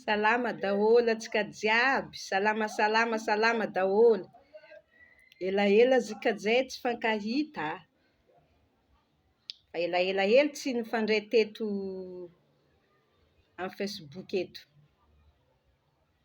Salama daholo antsika jiaby, salama salama salama daholo, elaela izy ka zay tsy fankahita a, efa elaela hely tsy nifandray teto amin'ny facebook eto.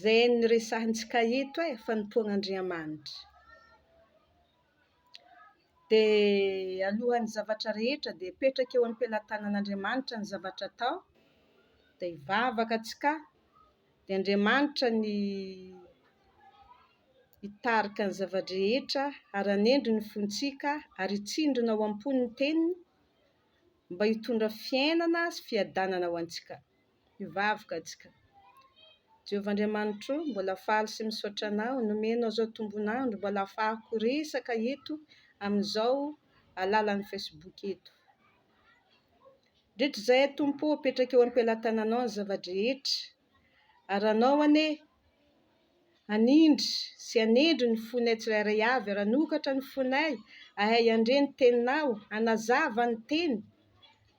Zay no resahintsika eto e, fanompoana Andriamanitra. Dia alohan'ny zavatra rehetra dia apetraka eo am-pelatanan'Andriamanitra ny zavatra atao, dia hivavaka antsika, dia Andriamanitra ny hitarika ny zava-drehetra ary hanendry ny fontsika ary hitsindrona ao am-po ny teniny mba hitondra fiainana sy fiadanana ho antsika. Hivavaka atsika. Jehovah Andriamanitro, mbola faly sy misaotra Anao nomenao izao tombon'andro mbola afahako resaka eto amin'izao alalan'ny Facebook eto. Mandritra izay Tompo ô, apetraka eo am-pelatananao ny zava-drehetra, ary Anao anie Hanindry sy hanendry ny fonay tsirairay avy ary hanokatra ny fonay hahay handre ny Teninao, hanazava ny Teny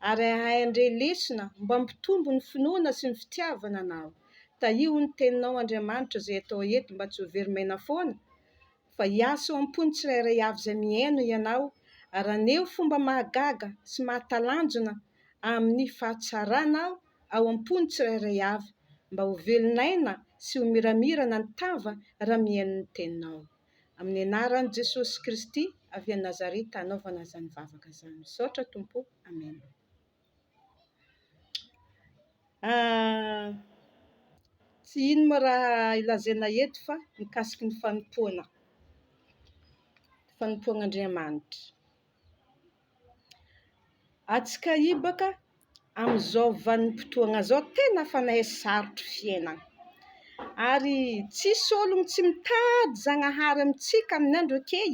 ary hahay handre lesona mba hampitombo ny finoana sy ny fitiavana Anao. Tahio ny Teninao Andriamanitra izay atao eto mba tsy ho very maina foana fa hiasa eo am-pon'ny tsirairay avy izay mihaino ianao ary haneho fomba mahagaga sy mahatalanjona amin'ny fahatsarana ao am-pon'ny tsirairay avy mba ho velon'aina sy ho miramirana ny tava raha mihaino ny Teninao. Amin'ny anaran'i Jesosy Kristy avy any Nazareta anaovana izany vavaka izany. Misaotra Tompo. Amena. Tsy ino moa raha ilazaina eto fa mikasiky ny fanompoana, fanompoana Andriamanitra. Atsika hibaka amin'izao vanim-potoana izao tena fanahy sarotro fiainana, ary tsisy olona tsy mitady Zagnahary amintsika amin'ny andro akey.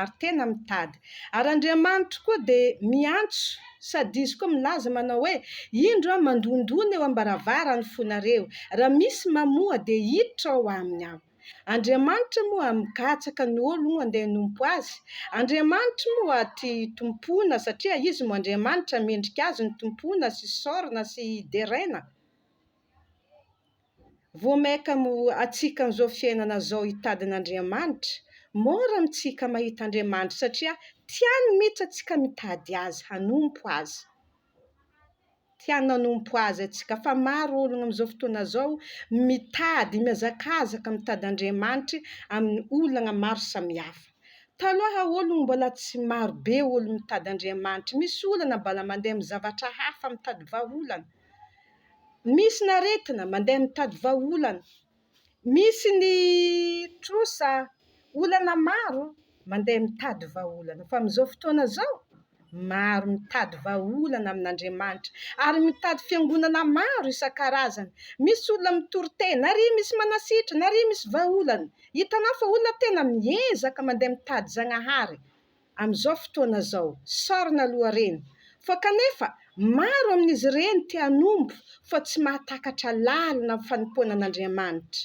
ary tena mitady. Ary Andriamanitro koa dia miantso sady Izy koa milaza manao hoe, Indro Aho mandondona eo am-baravaran'ny fonareo, raha misy mamoha dia hiditra ao aminy Aho. Andriamanitra moa aho migatsaka ny olo moa andeha hanompo Azy? Andriamanitro moa aho tia hitompoana satria Izy moa Andriamanitra mendrika Azy ny tompoina sy isaorana sy deraina? Vao maika mo atsika amzao fiainana zao hitady an Andriamanitra? Mora amitsika mahita Andriamanitra satria tiany mitsy atsika mitady azy hanompo azy. Tiany hanompo azy atsika fa maro ologna amzao fotoana zao mitady miazakazaka mitady Andriamanitry aminy olagna maro samihafa. Taloha ologno mbola tsy maro be ologno mitady Andriamanitry misy olana mbala mandeha am zavatra hafa mitady vahaolana. misy ny aretina mandeha mitady vahaolana, misy ny trosa olana maro mandeha mitady vahaolana fa amin'izao fotoana izao maro mitady vahaolana amin'Andriamanitra ary mitady fiangonana maro isan-karazany, misy olona mitory tena ary misy manasitrana ary misy vahaolana, hitanao fa olona tena miezaka mandeha mitady Zagnahary. amin'izao fotoana izao, sarona lohareno, fa kanefa maro amin'izy ireny te hanompo fa tsy mahatakatra lalina amin'ny fanompoana an'Andriamanitra.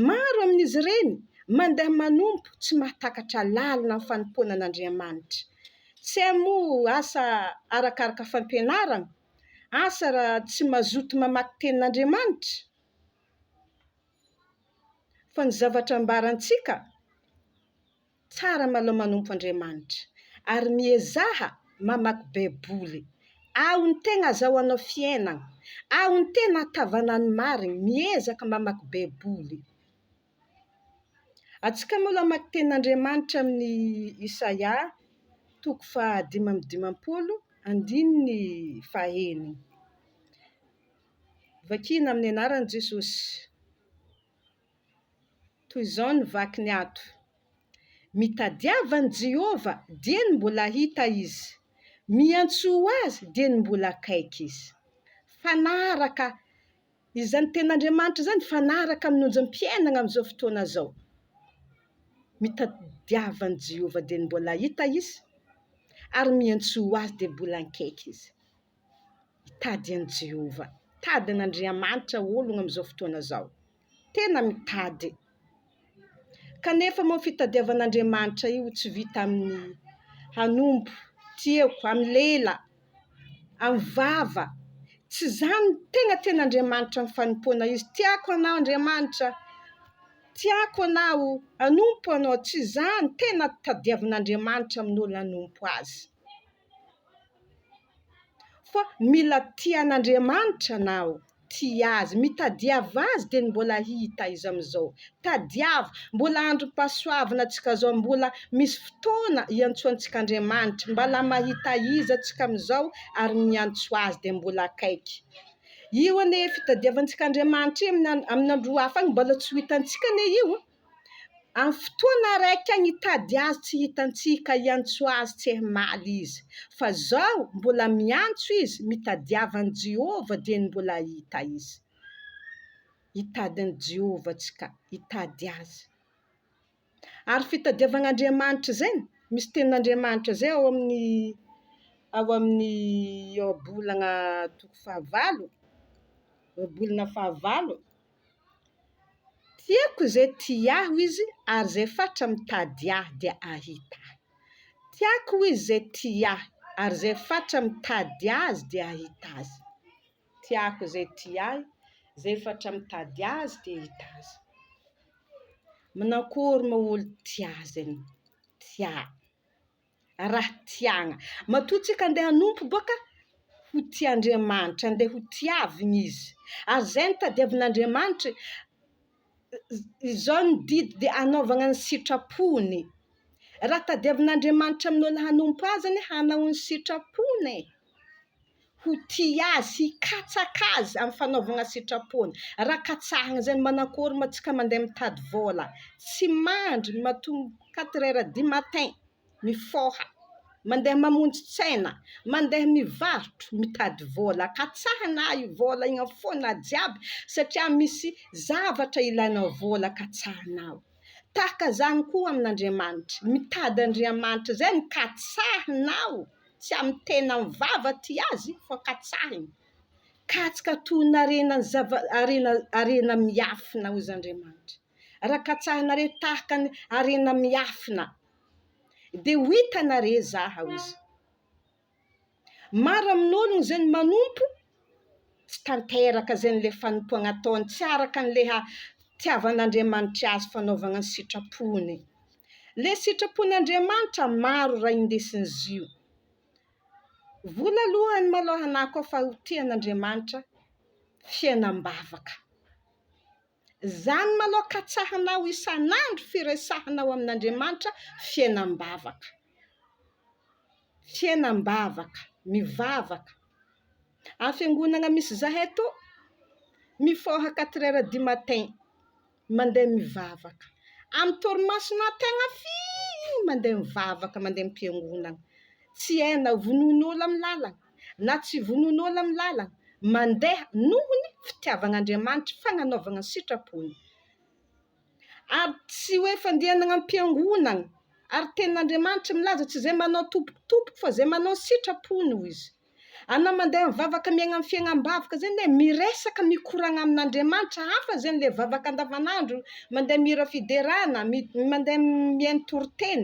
Maro amin'izy ireny mandeha manompo tsy mahatakatra lalina amin'ny fanompoana an'Andriamanitra. Tsy hay moa asa arakaraka fampianarana? Asa raha tsy mazoto mamaky tenin'Andriamanitra? Fa ny zavatra ambarantsika, Tsara malao manompo Andriamanitra ary miezaha mamaky baiboly aho ny tegna azaho anao fiainagna aho ny tegna atavana ny marigny miezaka mamaky baiboly atsika moa mamaky tenin'Andriamanitra amin'ny isaia toko faha dimy amby dimampolo andininy faha enigny vakiana amin'ny anaran'i Jesosy. Toy izao ny vakiny ato, Mitadiava an'i Jehovah, dieny mbola hita izy, miantsoa ho azy, dieny mbola akaiky izy. Mifanaraka izany tenin'Andriamanitra izany, mifanaraka amin'ny onjam-piainana amin'izao fotoana izao. Mitadiava an'i Jehovah, dieny mbola hita izy, ary miantsoa ho azy, dia mbola akaiky izy. Mitady an'i Jehovah, mitady an'Andriamanitra olona amin'izao fotoana izao. Tena mitady. Kanefa moa io fitadiavana an'Andriamanitra io tsy vita amin'ny hanompo, tiako, amin'ny lela, amin'ny vava. Tsy izany no tena tian'Andriamanitra amin'ny fanompoana izy. Tiako anao Andriamanitra, tiako anao, hanompo anao. Tsy izany tena tadiavin'Andriamanitra amin'ny olona hanompo azy. Fa mila tia an'Andriamanitra naho tia Azy. Mitadiava Azy dia ny mbola hita izy amin'izao. Tadiavo, mbola androm-pahasoavana antsika izao, mbola misy fotoana hiantsoantsika Andriamanitra. Mbala mahita Izy antsika amin'izao ary miantso Azy dia mbola akaiky. Io anie fitadiavantsika Andriamanitra io amin'ny andro hafa any mbola tsy ho hitantsika anie io. Amin'ny fotoana raika nitady azy tsy hitantsika hiantsoa azy tsy hmaly izy, fa izao mbola miantso izy mitadiava an'i Jehovah dia ny mbola hahita izy. Hitady an'i Jehovah tsika, hitady azy. Ary fitadiavagna Andriamanitra izay, misy tenin'Andriamanitra izay ao amin'ny ao amin'ny Ioabolagna toko fahavalo, Ioabolana fahavalo. Tiako izay tia ahy hoy izy ary izay fatra mitady ahy dia hahita ahy. Tiako hoy izy izay tia ahy ary izay fatra mitady azy dia hahita azy. Tiako izay tia ahy, izay fatra mitady azy dia hahita azy. Manakôry moa olo tia azy anao, tia. raha tiagna matoa tsika andeha hanompo boka ho tia Andriamanitra andeha ho tiavigny izy ary zay no tadiavin'Andriamanitry izao ny didy de anaovagna ny sitrapony raha tadiavin'Andriamanitra amin'olo hanompo azy anie hanao ny sitrapony e ho tia azy, hikatsaka azy amin'ny fanaovana sitrapony. Raha katsahina izay ny manakôry ma tsika mandeha mitady vôla, tsy mandry matoa quatre heures du matin mifôha, mandeha mamonjy tsena, mandeha mivarotro mitady vôla, katsahina ahy io vôla io fôna jiaby satria misy zavatra ilainao vôla katsahinao. Tahaka izany koa amin'Andriamanitra. Mitady Andriamanitra izay no katsahinao, tsy amin'ny tena mivava aty azy fa katsahiny. Katsaka toy ny harena zava- harena harena miafina hozy Andriamanitra. Raha katsahinareo tahaka ny harena miafina dia ho hitanareo izaho hozy. Maro amin'olona izay ny manompo tsy tanteraka izay an'ilay fanompoana ataony, tsy araka an'ilay hahatiavan'Andriamanitra azy fanaovana ny sitrapony. Ilay sitrapon'Andriamanitra maro raha indesin'izy io. Vola aloha any malao hanako aho fa ho tian'Andriamanitra fiainam-bavaka. Izany manao katsahana aho isan'andro firesahanao amin'Andriamanitra fiainam-bavaka. Fiainam-bavaka, mivavaka. Any fiangonana misy izahay to, mifoha quatre heures du matin, mandeha mivavaka. Amin'ny torimaso na tegna firy mandeha mivavaka, mandeha am-piangonana. Tsy hay na vonoin'olo amin'ny lalana. na tsy vonoin'olona amin'ny lalana, mandeha noho ny fitiavan'Andriamanitra, fagnanaovagna ny sitrapony. Ary tsy hoe fandihanagna am-piangonagna, ary tenin'Andriamanitra milaza tsy zay manao tompokotompoko fa zay manao ny sitrapony hoy izy. Anao mandeha mivavaka miaigna amin'ny fiaignam-bavaka zay ne miresaka mikoragna amin'Andriamanitra hafa zay am'le vavaka andavanandro, mandeha mihira fiderana, mi- mandeha mihaino toriteny,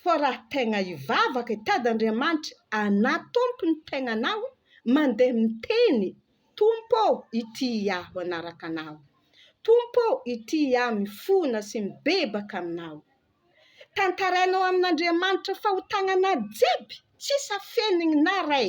Fa raha tegna hivavaka hitady Andriamanitra hanatompo ny tegnanao, mandeha miteny, Tompo ô, itia aho hanaraka Anao. Tompo ô, itia aho mifona sy mibebaka Aminao. Tantarainao amin'Andriamanitra fahotagna anao jiaby, tsisy afenigny na ray.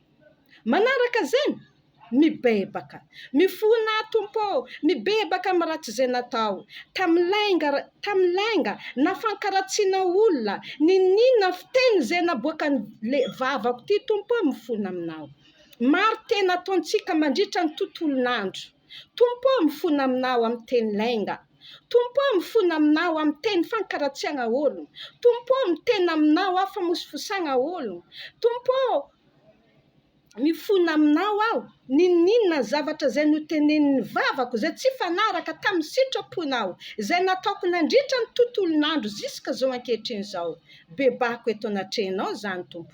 Manaraka izany, mibebaka. Mifoha na, Tompo ô, mibebaka amin'ny ratsy izay natao, tamin'ny lainga, tamin'ny lainga na fankaratsiana olona, niniana fiteny izay naboakan'le vavako ity, Tompo ô, mifona Aminao. Maro tena ataontsika mandritra ny tontolon'andro. Tompo ô mifona aminao amin'ny teny lainga Tompo ô mifona aminao amin'ny teny fankaratsiagna ologno Tompo ô miteny aminao aho famosifosagna ologno Tompo ô mifona aminao aho N'inon'inona zavatra zay notenenin'ny vavako Zay tsy hifanaraka tamin'ny sitraponao Zay nataoko nandritra ny tontolon'andro Zisk'izao ankehitriny zao Bebako eto anatrehanao zany Tompo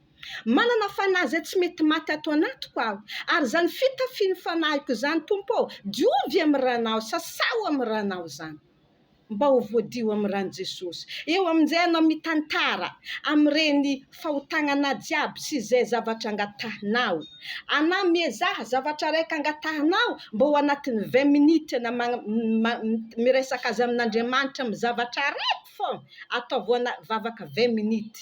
Manana fanahy izay tsy mety maty ato anatiko aho, ary izany fitafin'ny fanahiko izany, Tompo ô, diovy amin'ny Ranao, sasaho amin'ny Ranao izany, mba ho voadio amin'ny Ran'i Jesosy. Eo amin'izay ianao mitantara amin'ireny fahotagnanà jiaby sy izay zavatra angatahinao. Anà miezaha zavatra raika angatahinao mba ho anatin'ny vingt minutes anà miresaka azy amin'Andriamanitra amin'ny zavatra araiky foana, ataovy ho ana vavaka vingt minutes.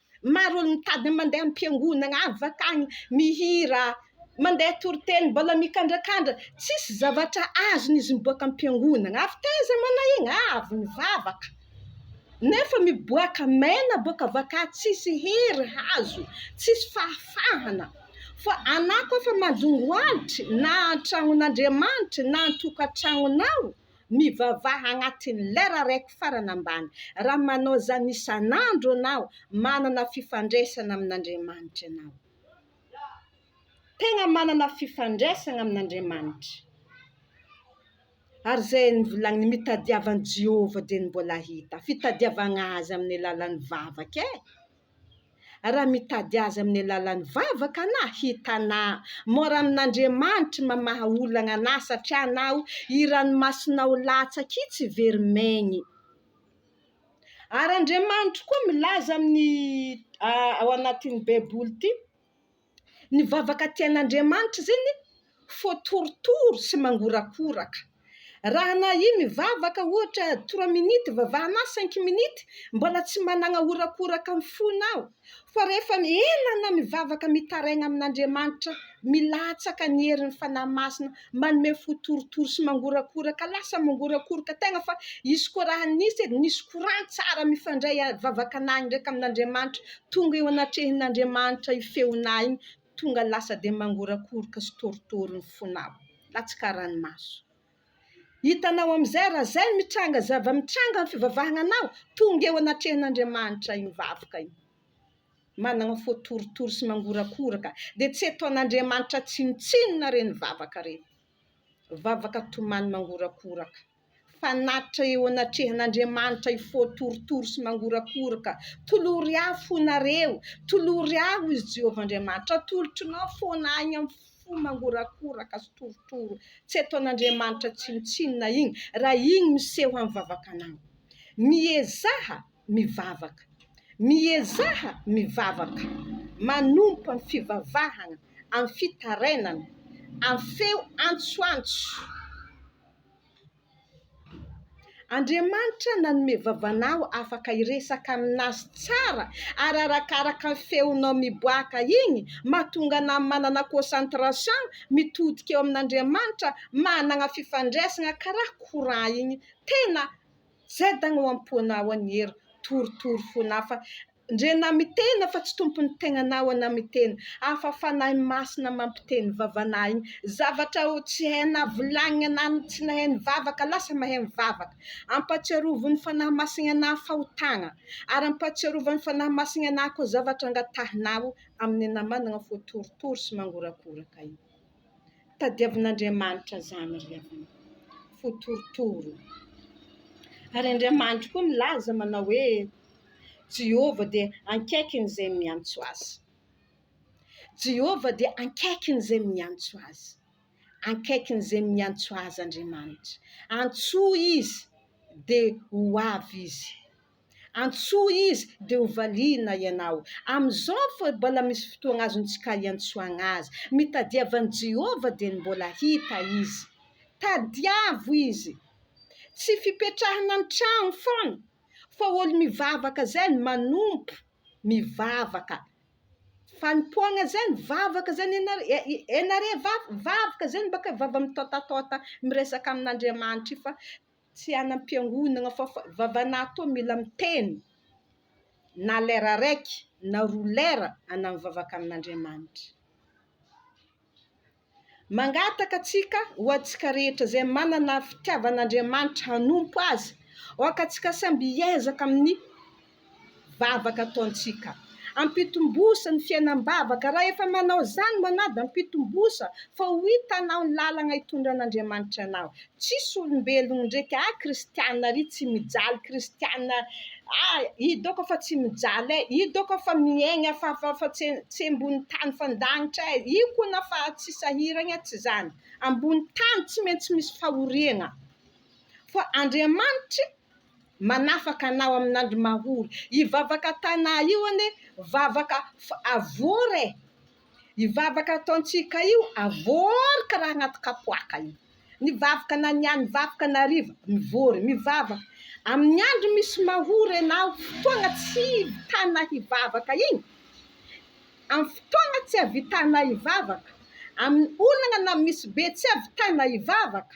Maro olo mitady ny mandeha ampiangonana afaka agny mihira mandeha toriteny mbola mikandrakandra tsisy zavatra azony izy miboaka ampiangonana avy taiza mana igny avy mivavaka nefa miboaka mena boka avaka tsisy hery azo tsisy fahafahana fa ana koa fa manjongo alitry na antragnon'Andriamanitry na antokatragnonao Mivavaha agnatin'ny lera raiky farany ambany. Raha manao izany isan'andro anao, manana fifandraisana amin'Andriamanitra ianao. Tegna manana fifandraisana amin'Andriamanitra. Ary izay novolagnin'ny mitadiava an'i Jehovah dia ny mbola hita. Fitadiavagna azy amin'ny alalan'ny vavaka e. Raha mitady azy amin'ny alalan'ny vavaka anah, hitanah. Mora amin'Andriamanitry mamaha olagna anah, satria anao i ranomasonao latsaka i tsy very maigny. Ary Andriamanitro koa milaza amin'ny ao anatin'ny Baiboly ty. Ny vavaka tian'Andriamanitra izany fo torotoro sy mangorakoraka. Raha na i mivavaka ohatra trois minutes vavahana ahy cinq minutes mbola tsy managna horakoraka ny fony aho fa rehefa ela anao mivavaka mitaraigna amin'Andriamanitra milatsaka ny herin'ny fanahy masina manome fo torotoro sy mangorakoraka lasa mangorakoroka tegna fa izy koa raha nisy edy nisy courant tsara mifandray a vavakanahy ndraiky amin'Andriamanitra tonga eo anatrehin'Andriamanitra io feonà igny tonga lasa de mangorakoroka sy torotoro ny fonao latsaka ranomaso hitanao am'zay raha zay mitranga zava-mitranga ny fivavahagna anao tonga eo anatrehan'Andriamanitra igny vavaka igny manana fo torotoro sy mangorakoraka dia tsy ataon'Andriamanitra tsinontsinona ireny vavaka ireny, vavaka tomany mangorakoraka, fanatitra eo anatrehan'Andriamanitra io fo torotoro sy mangorakoraka, tolory ahy fo nareo, tolory ahy hoy izy Jehovah Andriamanitra, atolotro nao fona ahy amin'ny fo mangorakoraka sy torotoro tsy ataon'Andriamanitra tsinontsinona iny raha iny miseho amin'ny vavakanao, miezaha mivavaka. Miezaha mivavaka manompa ny fivavahana amin'ny fitarainana, amin'ny feo antsoantso. Andriamanitra nanome vavana aho afaka hiresaka aminazy tsara ary arakaraka ny feonao miboaka iny mahatonga anah manana concentration mitodika eo amin'Andriamanitra manana fifandraisana karaha courant iny tena Zay dagny ao ampoanao any hery torotoro fon'afa ndre na mitena fa tsy tompon'ny tegnanao ana miteny afa fanahy masina mampiteny vavanao igny zavatra ho tsy hainao volagniny ana no tsy nahay nivavaka lasa mahay mivavaka ampatsiarovo ny fanahy masigny ana fahotagna ary ampatsiarova ny fanahy masigny ana koa zavatra angatahinao amin'ny ana managna fo torotoro sy mangorakoraka igny. Tadiavin'Andriamanitra izany ry havana fo torotoro ô! Ary Andriamanitro koa milaza manao hoe Jehovah dia ankaikin'izay miantso Azy. Jehovah dia ankaikin'izay miantso Azy. Ankaikin'izay miantso Azy Andriamanitra. Antsoy Izy dia ho avy Izy. Antsoy izy dia ho valiana ianao. Amin'izao fa mbola misy fotoana azontsika iantsoana azy. Mitadiava an'i Jehovah dia ny mbola hita izy. Tadiavo izy. Tsy fipetrahana an-trano foana, fa olo-mivavaka izay no manompo mivavaka. Fanompoana izay no vavaka izay ianareo vavaka izay no mba ka vava-mitôtatôta miresaka amin'Andriamanitra io fa Tsy any am-piangonagna fa vava-natô mila miteny na lera raiky na roa lera ana mivavaka amin'Andriamanitra. Mangataka antsika ho antsika rehetra izay manana fitiavan'Andriamanitra hanompo Azy, aoka antsika samby hiezaka amin'ny vavaka ataontsika. Ampitombosa ny fiainam-bavaka, raha efa manao izany ianao dia ampitombosa fa ho hitanao ny lalana hitondran'Andriamanitra anao. Tsisy olombelogno ndraika ah kristiana ary tsy mijaly kristiana ah ido ka fa tsy mijaly eh ido ka fa miaigna fa fa fa tsy tsy ambony tany fa an-danitra eh io ko na fa tsy sahiragna tsy zany ambony tany tsy maintsy misy fahoriagna fa Andriamanitry manafaka anao amin'andro mahory. Io vavaka Tana io anie vavaka avory e! Io vavaka ataontsika io avory karaha anaty kapoaka io. Ny vavaka na ny any vakoka na hariva mivory, mivavaka. Amin'ny andro misy mahory ianao, fotoana tsy ahitanà hivavaka iny, amin'ny fotoana tsy ahitanà hivavaka, amin'ny olana na misy be tsy ahitanà hivavaka,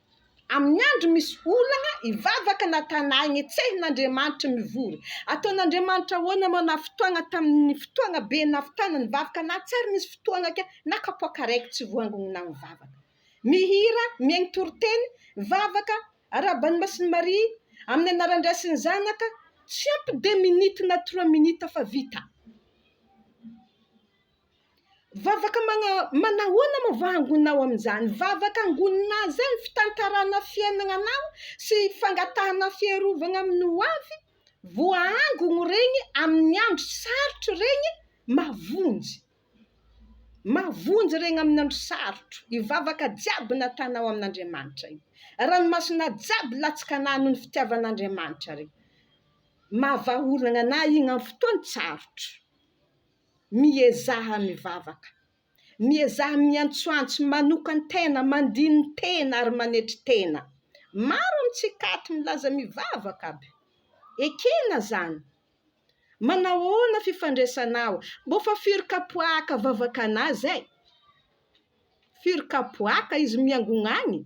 Amin'ny andro misy olana, hivavaka na tana aigna, hetsehina Andriamanitry ny vory. Ataon'Andriamanitra ahoana moa na fotoagna tamin'ny fotoagna be navitana ny vavaka na tsy ary nisy fotoagna ka na kapoaka araiky tsy voangogny na mivavaka. Mihira, mihaigny toriteny, mivavaka, arahaba an'i Masin'i Maria, amin'ny anaran'ny Ray sy ny Zanaka, tsy ampy deux minutes na trois minutes fa vita. Vavaka manahoana moa va angonina ao amin'izany? Vavaka angonina izany fitantarana fiainana anao sy fangatahana fiarovana amin'ny ho avy, voaangogny ireny amin'ny andro sarotra ireny mavonjy, mavonjy ireny amin'ny andro sarotra io vavaka jiaby natanao amin'Andriamanitra io, ranomasina jiaby latsakana noho ny fitiavan'Andriamanitra re, maha vahaolana anah iny amin'ny fotoan-tsarotra. miezaha mivavaka, miezaha miantsoantso, manokan-tena, mandini-tena ary manetry tena. Maro amintsika ato milaza mivavaka aby. Ekena zany. Manahoana fifandraisanao? Mbô fa firy kapoahaka vavakanà zay? Firy kapoahaka izy miangogna agny?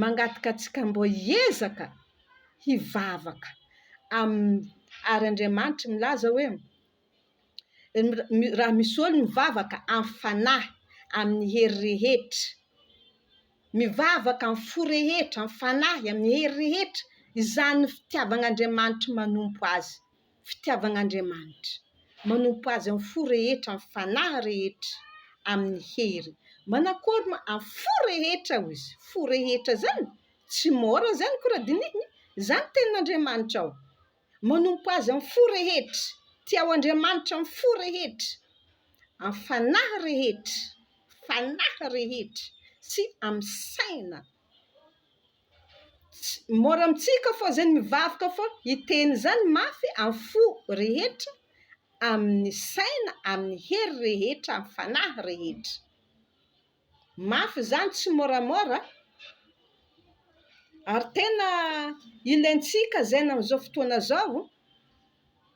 Mangataka antsika mbô hiezaka hivavaka amin'ny ary Andriamanitra milaza hoe raha misy olo mivavaka amin'ny fanahy amin'ny hery rehetra mivavaka amin'ny fo rehetra amin'ny fanahy amin'ny hery rehetra izany ny fitiavan'Andriamanitra manompo azy fitiavan'Andriamanitra, manompo Azy amin'ny fo rehetra, amin'ny fanahy rehetra, amin'ny hery. Manakory ma? Amin'ny fo rehetra hoy izy. Fo rehetra izany? Tsy môra izany akory raha dinihina. Izany ny tenin'Andriamanitra ao. Manompo Azy amin'ny fo rehetra. Tiao Andriamanitra amin'ny fo rehetra, amin'ny fanahy rehetra, fanahy rehetra sy amin'ny saina Mora amintsika foana izay ny mivavaka foana. Hiteny izany mafy amin'ny fo rehetra, amin'ny saina, amin'ny hery rehetra, amin'ny fanahy rehetra. Mafy izany, tsy môramôra. Ary tena ilaintsika izany amin'izao fotoana izao.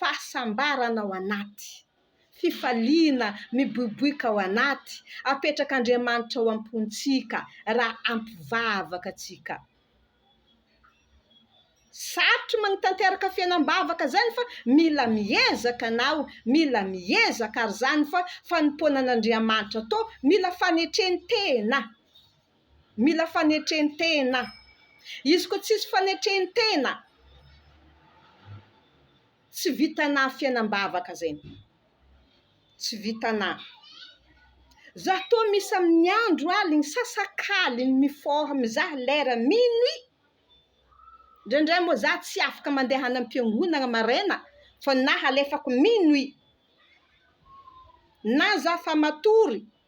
fahasambarana ao anaty, fifaliana miboiboika ao anaty apetrak'Andriamanitra ao am-pontsika raha ampy vavaka antsika. Sarotry magnitanteraka fiainam-bavaka zany fa mila miezaka anao, mila miezaka ary zany fa fanompoana an'Andriamanitra to mila fanetren-tena. Mila fanetren-tena. Izy koa tsisy fanetren-tena, tsy vitanà fiainam-bavaka zainy. Tsy vitanà. Za toa misy amin'ny andro aligny sasakaliny mi-forme mizaha lera minuit. Ndraindray moa za tsy afaka mandeha any am-piangonagna maraina fa na halefako minuit, na za fa matory,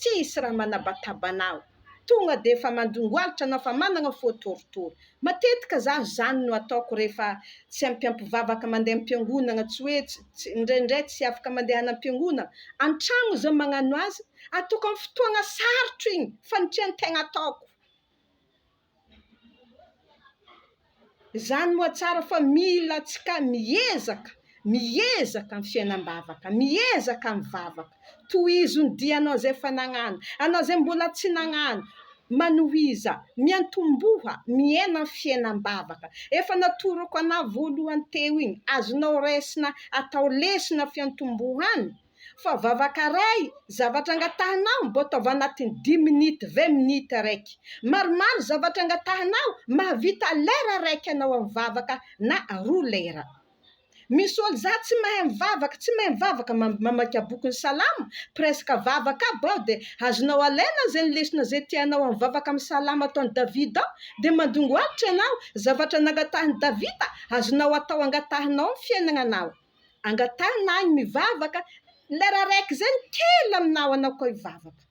Tsisy raha manabataba anao. Tonga dia efa mandongoalitra anao fa manana fo torotoro. Matetika za zany no ataoko rehefa tsy ampiampivavaka mandeha ampiangonana tsy hoe tsy indraindray tsy afaka mandehana ampiangonana antragno za magnano azy ataoko am fotoagna sarotro igny fa ny tian tegna ataoko. Izany moa tsara fa mila antsika miezaka, miezaka ny fiainam-bavaka, miezaka mivavaka. Tohizo ny dia anao izay efa nagnano, anao izay mbola tsy nagnano, manohiza, miantomboha, miaina ny fiainam-bavaka. Efa natoroko anao voalohany teo iny, azonao raisina atao lesona fiantombohana. fa vavaka ray zavatra angatahanao mbô taova anatin'ny dimy minute ve minute raiky maromaro zavatra angatahanao mahavita lera raiky anao amin'ny vavaka na roa lera misy ol za tsy mahay mivavaka tsy mahay mivavaka mamaika boky ny salamo presque vavaka aby aho de azonao alaina zegny lesona zay tianao amin'ny vavaka amin'ny salamo ataon'i davida ao de mandongo alotra ianao zavatra nangatahan'i davida azonao atao angatahanao amin'ny fiainagnanao angatahina ahy ny mivavaka, lera araiky izay ny kely amin'ny nahanako ahy hivavaka.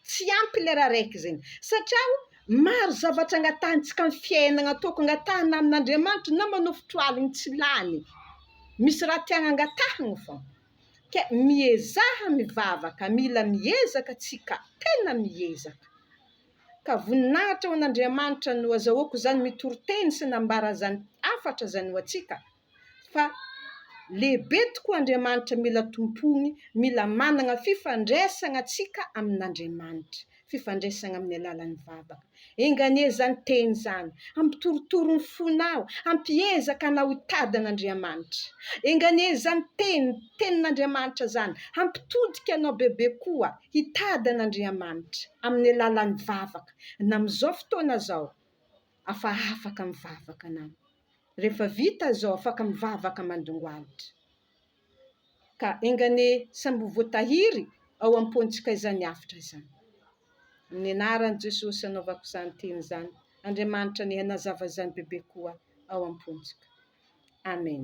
Tsy ampy ny lera araiky izay, satria o, maro zavatra angatahintsika amin'ny fiainana ataoko, angatahina amin'Andriamanitra na manofotra aligny tsy lany, misy raha tiana angatahina foana. Ka miezaha mivavaka, mila miezaka tsika, tena miezaka. Ka voninahitra ho an'Andriamanitra no azahoako izany mitoriteny sy nambara izany hafatra izany ho antsika. fa lehibe tokoa Andriamanitra mila tompoiny, mila manana fifandraisana tsika amin'Andriamanitra, fifandraisana amin'ny alalan'ny vavaka, enga anie izany teny izany hampitorotoro ny fonao, hampiezaka anao hitady an'Andriamanitra, enga anie izany teny, tenin'Andriamanitra izany hampitodika anao bebe koa hitady an'Andriamanitra amin'ny alalan'ny vavaka, na amin'izao fotoana izao afa afaka mivavaka anao. rehefa vita izao afaka mivavaka mandongoalitra. Ka enga anie samy ho voatahiry ao am-pontsika izany avotra izany. Amin'ny anaran'i Jesosy anaovako izany teny izany, Andriamanitra anie hanazava izany bebe koa ao am-pontsika. Amen.